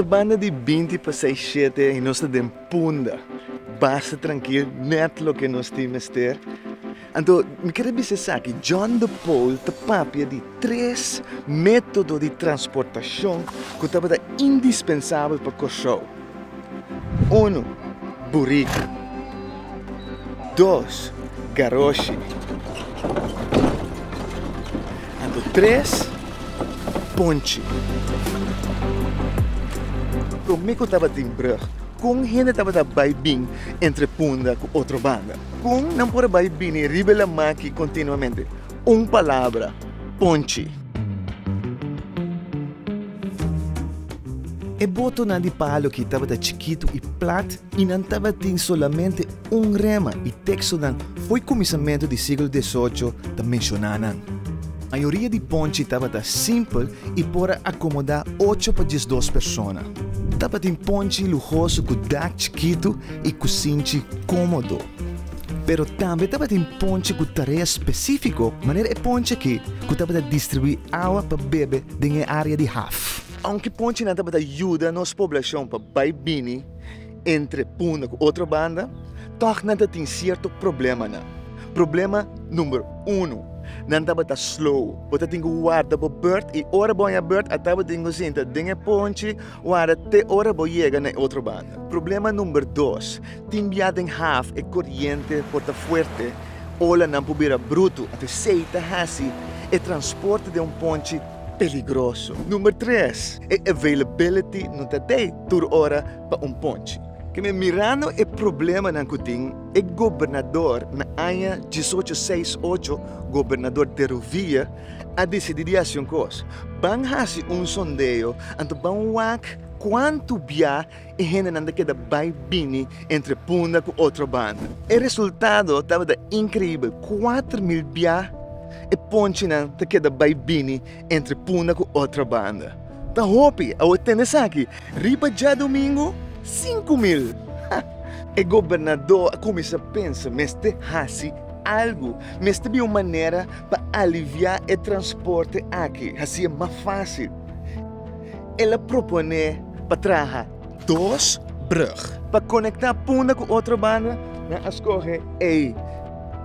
Ta banda di binti pasai shete i nos ta den punda basta trankil net loke nos tin mester. Anto, mi kere bisa esaki, John de Paul ta papia di tres método di transportashon ku tabata indispensabel pa Kòrsou. Uno, buriku. Dos, garoshi. Anto tres, ponchi. Promé ku tabatin brùg, kon hende tabata bai bin entre Punda ku otro banda? Kon nan por a bai bini riba e lamaki kontinuamente? Un palabra, ponchi. E botonan di paloki tabata chikitu i plat i nan tabatin solamente un rema i tekstonan fo'i kuminsamentu di siglo desocho ta menshoná nan. Mayoria di ponchi tabata simpel i por a akomodá ocho pa diesdos persona. Tabatin ponchi luhoso ku dak chikitu i ku sinti kómodo. Pero tambe tabatin ponche ku tarea spesífiko, manera e ponche akí ku tabata distribuí awa pa bebe den e área di haf. Ounke ponchenan tabata yuda nos poblashon pa bai bini entre punda ku otro banda, tòg nan ta tin sierto problemanan. Problema number unu, nan tabata slow. Bo ta tin ku warda bo bèrt i ora bo haña bèrt a tabatin ku sinta den e ponche, Wara te ora bo yega na e otro banda. Problema number dos, tin bia den haf e coriente por ta fuerte, olanan por bira bruto, anto esey ta haci e transporte den un ponchi peligroso. Number tres, e availability no ta dey tur ora pa un ponchi. Keme mirando e problemanan cu tin, e gobernador na aña diesocho seis ocho, Gobernador de Rovilla, a decidí di haci un cos. Ban haci un sondeo, anto ban wak cuanto bia e hendenan ta keda bai bini entre punda cu otro banda. E resultado tabata increíbel, cuater mil bia e ponchinan ta keda bai bini entre punda cu otro banda. Ta hopi, awe tende esaki, riba djadomingo, cinco mil! Ha! E gobernadó a cuminsa pensa, mester haci algo, mester bin un manera Pa aliviá e transporte aki hasié mas fásil, el a proponé pa traha dos brùg. Pa konektá punda ku otro banda, nan a skohe ei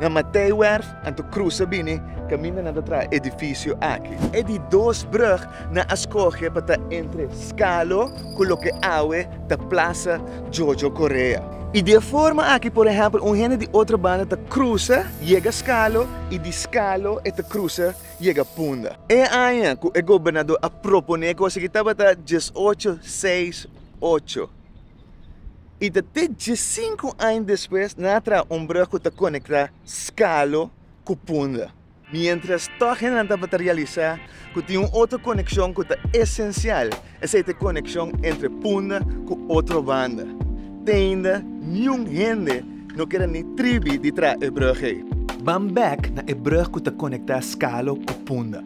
na Matthijwerf, anto krusa bini kaminda nan ta traha edifisio aki. E di dos brùg nan a skohe pa ta entre Scalo. cu loke awe ta Plaza Jojo Correa. Y di e forma aki por ehempel un hende di otro banda ta cruza yega Scalo y di Scalo e ta cruza yega Punda. E aña cu e Gobernador a propone e cos aki tabata diesocho seis ocho y ta te diescinco aña despues nan a traha un brug cu ta conecta Scalo cu Punda. Miéntras tòg hende nan tabata realisá ku tin un otro konekshon ku ta esensial, esei ta e konekshon entre punda ku otro banda. Teinda niun hende no keda ni tribi di traha e brùg ei. Ban bèk na e brùg ku ta konektá Skalo ku Punda.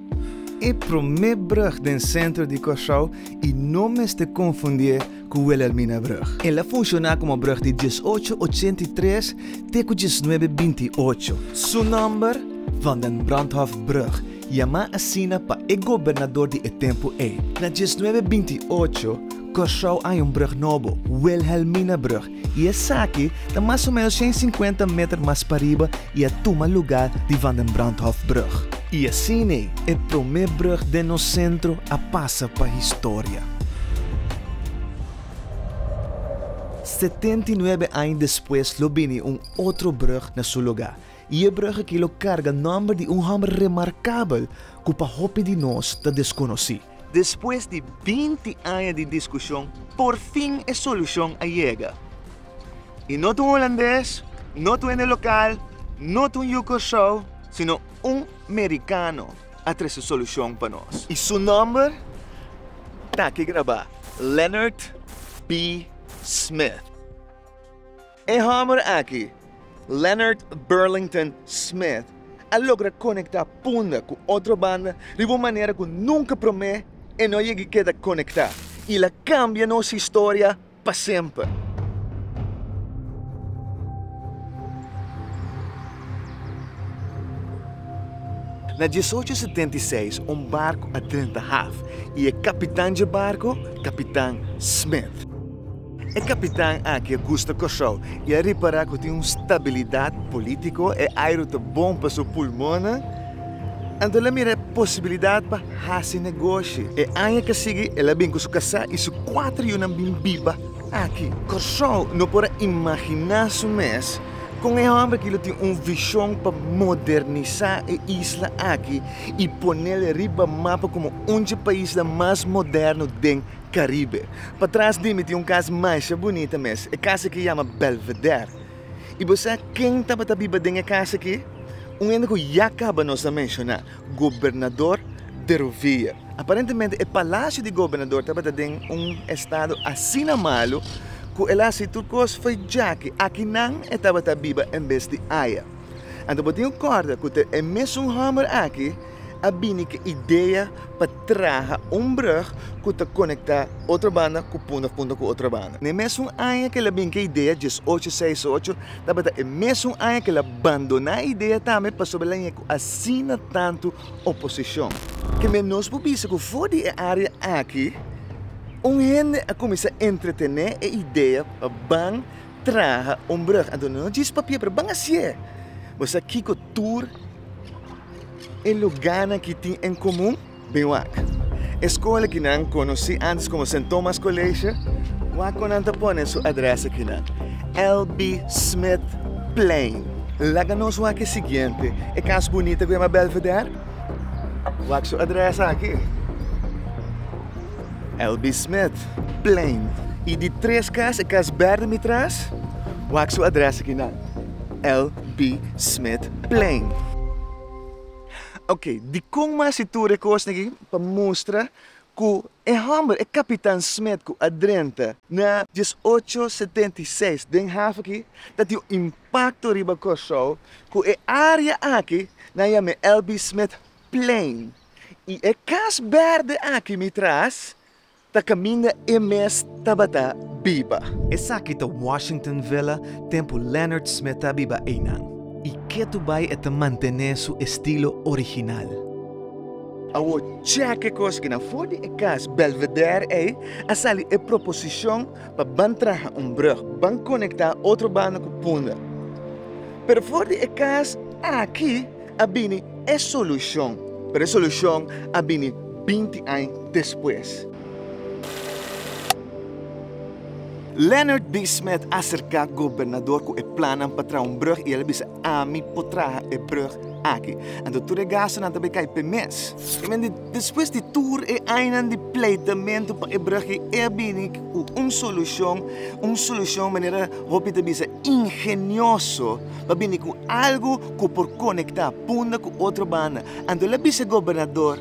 E promé brùg den sentro di Kòrsou i no mester konfundié ku Wilhelmina brug. El a funshoná komo brug di diesocho ochenta i tres te ku diesnuebe binti i ocho. Su nòmber, Van den Brandhof-brug, yamá asina pa e gobernador di e tempu ei. Na diesnuebe binti i ocho, Kòrsou ai un brug nobo, Wilhelmina brug, y esaki ta mas o menos shen sinkuenta meter mas pariba y a tuma lugar di Van den Brandhofbrug. Y asine e prome brug den nos centro a pasa pa historia. Setenta y nuebe aña despues lo bini un otro brug na su lugar y e brug aki lo carga nomber di un homber remarcabel cu pa hopi di nos ta desconoci. Despues di binti aña di diskushon, porfin e solushon a yega. I no ta un holandes, no ta un hende lokal, no ta un yu Kòrsou, sino un merikano a trese solushon pa nos. I su nòmber ta aki grabá, Leonard B. Smith. E hòmber aki, Leonard Burlington Smith, a logra konektá punda ku otro banda riba un manera ku nunka promé e no yegi keda konektá i la kambia nos historia pa semper. Na diesocho setenta i seis un barku a drenta haf i e kapitan dje barku, Kapitan Smith. E kapitan aki a gusta Kòrsou i a ripará ku tin un stabilidat polítiko, e airu ta bon pa su pulmonnan, anto el a mira e posibilidat pa hasi negoshi. E aña ka sigui el a bin ku su kasá i su kuater yunan bin biba aki. Kòrsou no por a imaginá su mes kon e hòmber aki lo tin un vishon pa modernisá e isla aki i ponel riba mapa komo un dje paisnan mas moderno den Caribe. Patras di mi tin un cas masha bunita mes, e cas aki yama Belvedere. Y bo sa ken tabata biba den e cas aki? Un hende cu ya caba nos a menshona, Gobernador de Rovia. Aparentemente e palacio di Gobernador tabata den un estado asina malo cu el a haci tur cos for jaki aki nan e tabata biba en bes di aya. Anto bo tin un corda cu ta e mesun homber aki, a bini ku e idea pa traha un brug ku ta konektá otro banda ku punta punta ku otro banda. Na e mesun aña ku el a bin ku e idea, dies ocho seis ocho, tabata e mesun aña ku el a bandoná e idea tambe pasobra el a ña ku asina tantu oposishon. Ke men nos por bisa ku for di e área aki un hende a kuminsá entretené e idea pa ban traha un brug anto no djis papia pero ban hacié bo sa kiko tur e lugarnan ki tin en comun? Bin wak e scola ki nan conoci antes como Saint Thomas College wak con nan ta pone su adres aki nan LB Smith Plain laga nos wak e siguiente e cas bunita cu yama Belvedere wak su adres aki. Elby Smith, plein. Y di tres cas e cas berde mi tras, wak su adres aki nan, Elby Smith, plein. Ok, dikon mas e tur e cosnan aki pa mustra cu e homber, e Capitan Smith cu a drenta na dies ocho setenta y seis den haven aki ta tin un impacto riba Corsou cu e area aki nan yam'e Elby Smith, plein. I e kas bèrdè aki mi tras ta kaminda e mes tabata biba. Esaki ta Washington Villa den ku Lennard Smith ta biba einan. I ke tu bai e ta mantené su estilo original. Awor chèk'e kos kinan for di e kas Belvedere ei a sali e proposishon pa ban traha un brug ban konektá otro banda ku Punda. Pero for di e kas aki a bini e solushon, pero e solushon a bini binti aña despues. Leonard Bisma a aserká gobernador ku e plannan pa traha un brùg i el a bisa, Ami por traha e brùg aki. Anto tur e gastunan ta bai kai p'e mes. Despues di tur e añanan di pleitamentu pa e brùg ei, e a bini ku un solushon, un solushon manera hopi ta bisa ingenioso. pa bini ku algu ku por konektá punda ku otro banda. Anto el a bisa gobernador,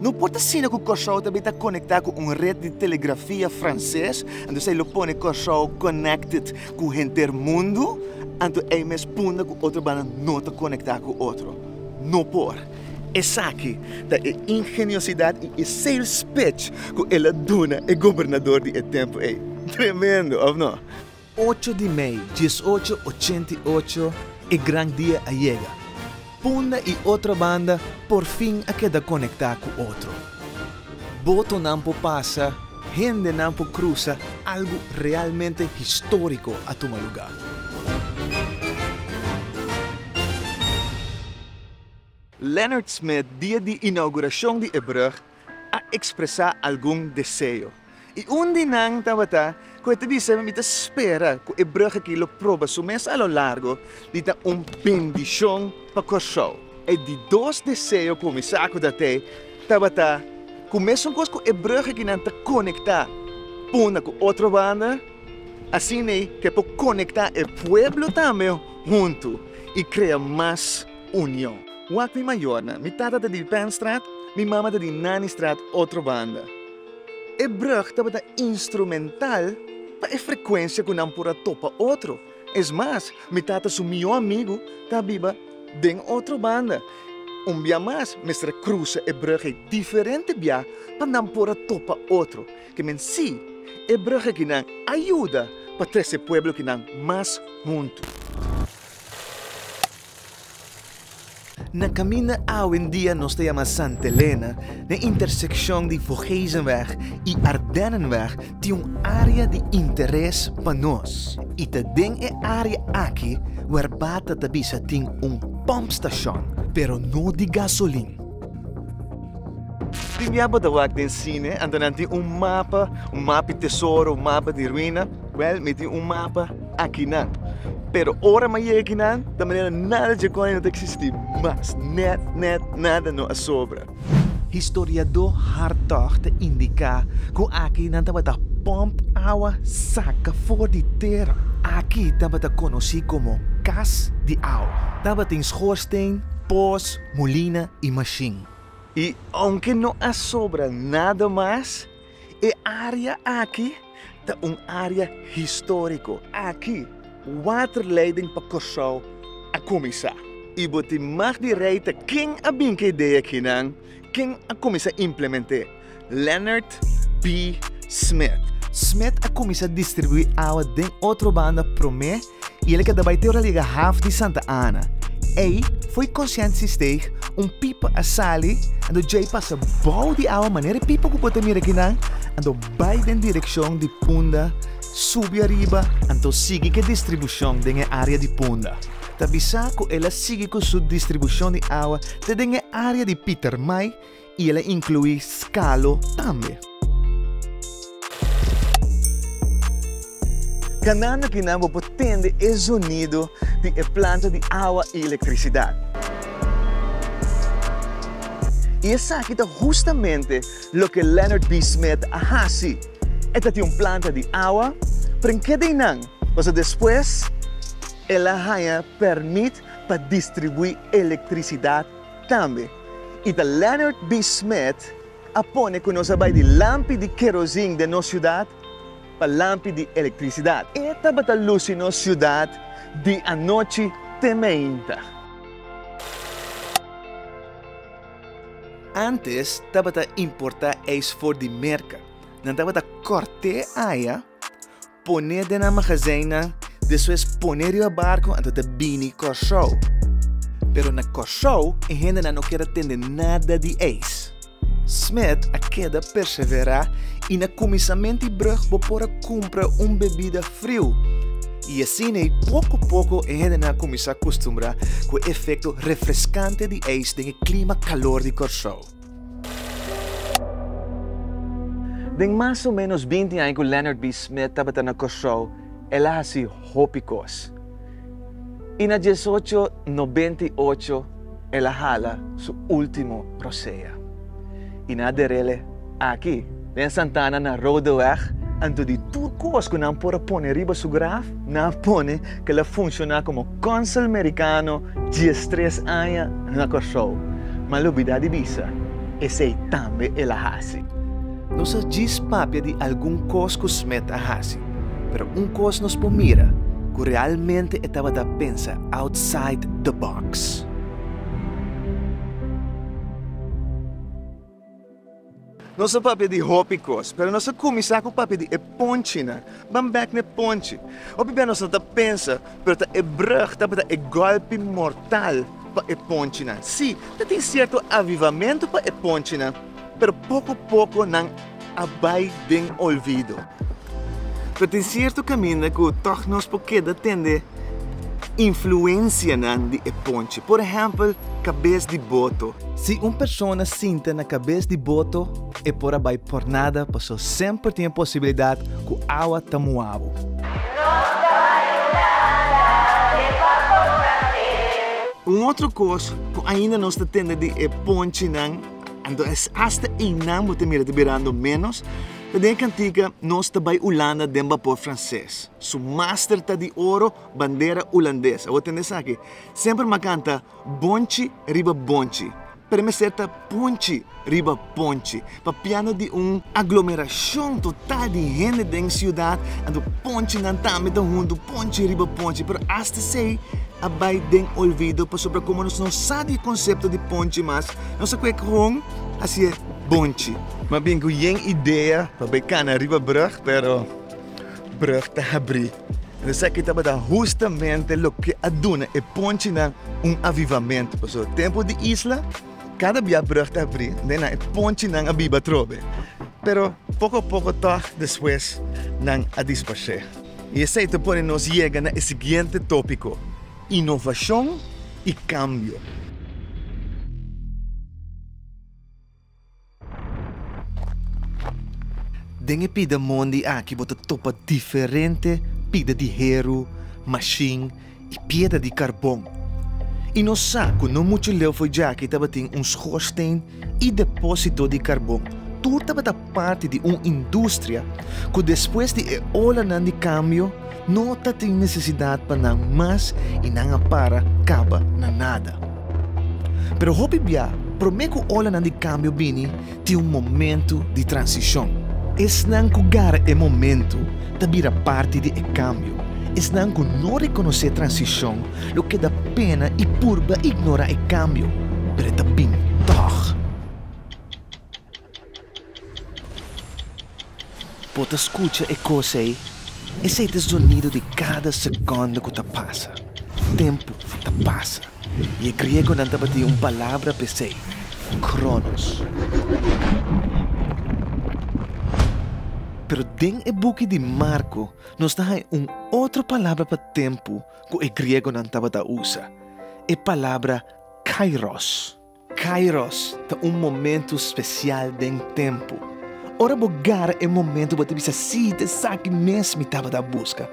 No por ta asina ku Kòrsou ta bin ta konektá ku un ret di telegrafia franses, anto esei lo pone Kòrsou connected ku henter mundu, anto ei mes punda ku otro banda no ta konektá ku otro. No por. Esaki ta e ingeniosidat i e sales pitch ku el a duna e gobernador di e tempu ei. Tremendo, òf no? Ocho di mei, dies ocho ochenta i ocho, e gran dia a yega. Punda i otro banda por fin a keda konektá ku otro. Botonan por pasa, hendenan por krusa, algu realmente históriko a tuma lugá. Leonard Smith dia di inauguracion di e brug a expresa algun deseo y un di nan tabata cu e ta bisa, Mi ta spera cu e brug aki lo proba su mes a lo largo di ta un bendicion pa Corsou. E di dos deseo cu mi sa cu dat'e tabata cu mesuncoz cu e brug aki nan ta conecta punda cu otro banda, asin'e ke por conecta e pueblo tambe hunto y crea mas. Union. Wak mi mayornan, mi tata ta di Penstraat, mi mama ta di Nannystraat otro banda. E brug tabata instrumental pa e frecuencia cu nan por a topa otro. Es mas, mi tata su mihor amigo ta a biba den otro banda. Un bia mas, mester a cruza e brug ei diferente bia pa nan por a topa otro. Ke men si, e brug aki nan a yuda pa trece pueblo ki nan mas hunto. Na kaminda awendia nos ta yama Santa Elena, den intersekshon di Voorgezenweg i Ardennenweg tin un área di interes pa nos i ta den e área aki wer Bata ta bisa tin un pòmpstashon, pero no di gasolin. Tin bia bo ta wak den sine, anto nan tin un mapa, un mapi tesoro, un mapa di ruina? Wèl, mi tin un mapa. akinan. Pero ora m'a yega kinan, ta manera nada dje kòne no ta eksistí mas. Nèt, nèt, nada no a sobra. Historiadó Hartog ta indiká ku aki nan tabata pòmp awa saka for di tera. Aki tabata konosí komo kas di awa. Tabatin schoorsteen, poos, molina i mashin. I ounke no a sobra nada mas. E área aki ta un área históriko. Aki waterleiding pa Kòrsou a kuminsá. I bo tin mag di reita ken a bin ku e idea akinan, ken a kuminsá implement'é? Leonard P. Smith. Smith a kuminsá distribuí awa den otro banda promé. y el a keda bai te ora a yega haf di Santa Ana. Ey foi consciente si steeg un pipa a sali ando djey pasa bou di awa manera e pipa cu bo ta mira akinan ando bai den direccion di punda subi ariba anto sigui cu e distribucion den e area di punda. Ta bisa cu el a sigui cu su distribucion di awa te den e area di Pietermaai y el a inclui scalo tambe. Ganando ki nan bo por tende e zonido di e planta di awa y electricidad. Y esaki ta hustamente loke Leonard B. Smith a haci. E ta tin un planta di awa, pren ke den nan, paso despues el a haña permit pa distribui electricidad Tambe i ta Leonard B. Smith a pone ku nos a bai di lampi di kerosin den nos siudat pa lampi di elektrisidat. E tabata lusi nos siudat di anochi te meinta. Antes tabata importá eis for di Merka. Nan tabata kòrt'é aña Poné den nan magazinnan, despues poné riba barco anto ta bini Kòrsou. Pero na Kòrsou e hendenan no ker a tende nada di eis. Smith a keda perseverá i na kuminsamènt di brùg bo por a kumpra un bebida friu. I asin'ei poko poko e hendenan a kuminsá kustumbrá ku e efekto refreskante di eis den e klima kalor di Kòrsou. Den mas o ménos binti aña ku Leonard B. Smith tabata na Kòrsou, el a hasi hopi kos. I na dies ocho nobenta i ocho el a hala su último prosea. I na ader'é aki. Den Santana na Roodeweg, anto di tur kos ku nan por a pone riba su graf, nan a pone ku el a funshoná komo kònsul merikano dies tres aña na Kòrsou. M'a lobidá di bisa, esei tambe el a hasi. Nos a djis papia di algun kos ku Smith a hasi, pero un kos nos por mira ku realmente e tabata pensa outside the box. Nos a papia di hopi kos, pero nos a kuminsá ku papia di e ponchinan. Ban bèk n'e ponchi. Hopi bia nos no ta pensa, pero ta e brùg tabata e gòlpi mortal pa e ponchinan. Sí, ta tin sierto avivamentu pa e ponchinan, pero poko poko nan. a bai den olvido. Pero tin cierto caminda cu toch nos por keda tende influencianan di e ponche. Por ehempel, cabez di boto. Si un persona sinta na cabez di boto, e por a bai por nada paso semper tin e posibilidad cu awa ta muabo. Nos ta bai nada den barco francés. Un otro cos cu ainda nos ta tende di e ponchenan. Anto es asta einan bo ta mira ta birando ménos. Ta den e kantika Nos ta bai Ulanda den bapor franses. Su master ta di oro, bandera ulandes. Awor tende esaki. Semper m'a kanta bonchi riba bonchi. Pero mester ta ponchi riba ponchi. Papiando di un aglomerashon total di hende den siudat, anto ponchinan tambe ta huntu ponchi riba ponchi. Pero asta esei a bai den olvido pasobra komo nos no sa di e konsepto di ponchi mas, Nos a kwek hon a siye bonchi. Mas bien cu yen idea pa bay cana riba brug pero brug ta habri. Entonces esaki tabata hustamente loke a duna e ponchinan un avivamento. Paso tempo di isla cada bia brug ta habri den nan e ponchinan a biba atrobe. Pero poco a poco tog despues nan a disparse. Y esey ta pone nos yega na e siguiente topico. Inovashon i kambio. Den e pida mondi aki bo ta topa diferente pida di heru, mashin i piedra di karbon. I no sa ku no muchu leu for djaki tabatin un schoorsteen E depósito di karbon tur tabata parti di un industria ku despues di e olanan di kambio no ta tin nesesidat pa nan mas i nan a para kaba na nada. Pero hopi bia, promé ku olanan di kambio bini, tin un momentu di transishon. Esnan ku gara e momentu ta bira parti di e kambio, esnan ku no rekonosé transishon Lo keda pena i purba ignorá e kambio, pero e ta bini tòg. Bo ta skucha e kos ei? Esei ta e zonido di kada sekònda ku ta pasa. Tempu ta pasa, i e griegonan tabatin un palabra p'esei, kronos. Pero den e buki di Marko nos ta hai un otro palabra pa tempu. ku e griegonan tabata usa e palabra kairos. Kairos ta un momentu spesial den tempu. Ora bo gara e momentu bo ta bisa, Sí, ta esaki mes mi tabata a buska.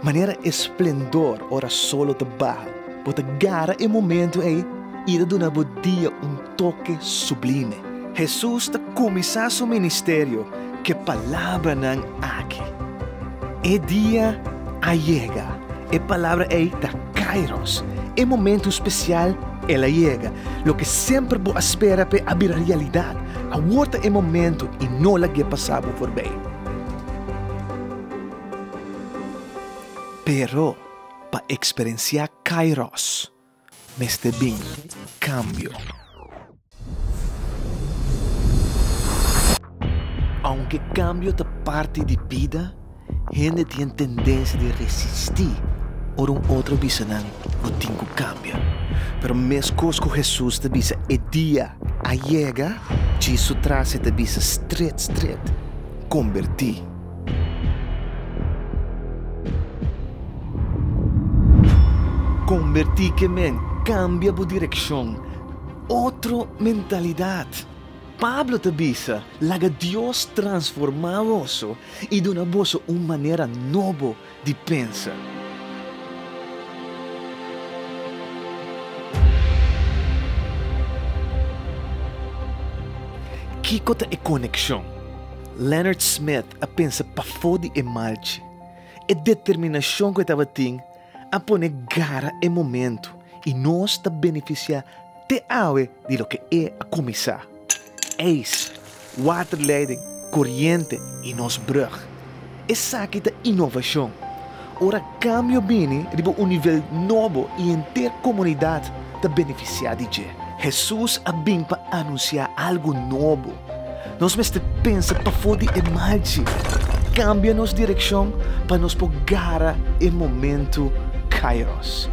Manera e splendor ora sol lo ta baha, bo ta gara e momentu ei i e ta duna bo dia un toke sublime. Hesus ta kuminsá su ministerio k'e palabranan aki, E dia a yega. E palabra ei ta Kairos. E momentu spesial, el a yega. Loke semper bo a spera p'e a bira realidat. Awor ta e momentu i no lag'é pasá bo forbei. Pero pa eksperensiá Kairos. Mester bin cambio. Aunke cambio ta parti di bida, hende tien tendencia di resisti ora un otro bisa nan bo tin cu cambia. Pero mescos cu Jesus ta bisa e dia a yega, djis su tracia ta bisa stret stret, converti. Kombertí ke men, kambia bo direkshon. Otro mentalidat. Pablo ta bisa, Laga Dios transformá boso i duna boso un manera nobo. di pensa. Kiko ta e konekshon? Leonard Smith a pensa pafó di e malchi. E determinashon ku e tabatin a pone gara e momentu i nos ta benefisiá te awe di loke e a kuminsá. ijs, waterleiding, coriente y nos brug. Esaki ta innovacion. Ora cambio bini riba un nivel nobo y henter comunidad ta beneficia di dje. Hesus a bin pa anuncia algo nobo. Nos mester pensa pafo di e mal dje, cambia nos direccion pa nos por gara e momento Kairos.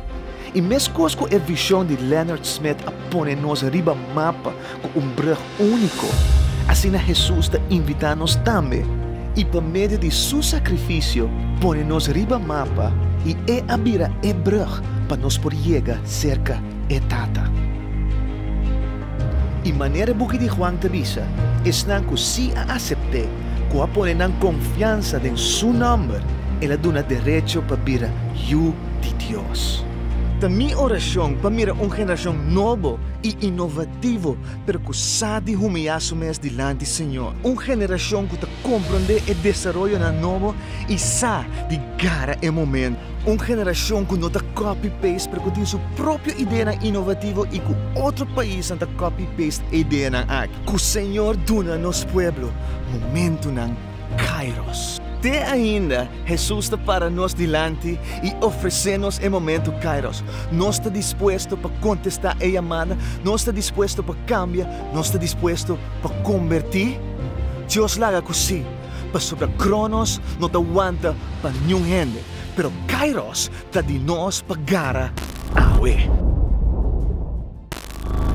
I meskos ku e vishon di Leonard Smith a pone nos riba mapa ku un brug úniko, asina Hesus ta invitá nos tambe i pa medio di su sakrifisio pone nos riba mapa i e a bira e brug pa nos por yega serka e Tata. I manera e buki di Juan ta bisa, esnan ku sí a asept'é, ku a pone nan konfiansa den su nòmber, el a duna derecho pa bira yu. di Dios. Ta mi orashon pa mira un generashon nobo i inovativo pero ku sa di humillá su mes dilanti Señor. Un generashon ku ta komprondé e desaroyonan nobo i sa di gara e momentu. Un generashon ku no ta kopi peist pero ku tin su propio ideanan inovativo i ku otro paisnan ta kopi peist e ideanan aki. Ku Señor duna nos pueblo momentunan. Kairos. Te ainda Hesus ta para nos dilanti i ofresé nos e momentu Kairos. Nos ta dispuesto pa kontestá e yamada, nos ta dispuesto pa kambia, nos ta dispuesto pa kombertí? Dios laga ku sí, pasobra Kronos no ta wanta pa niun hende, pero Kairos ta di nos pa gara awe.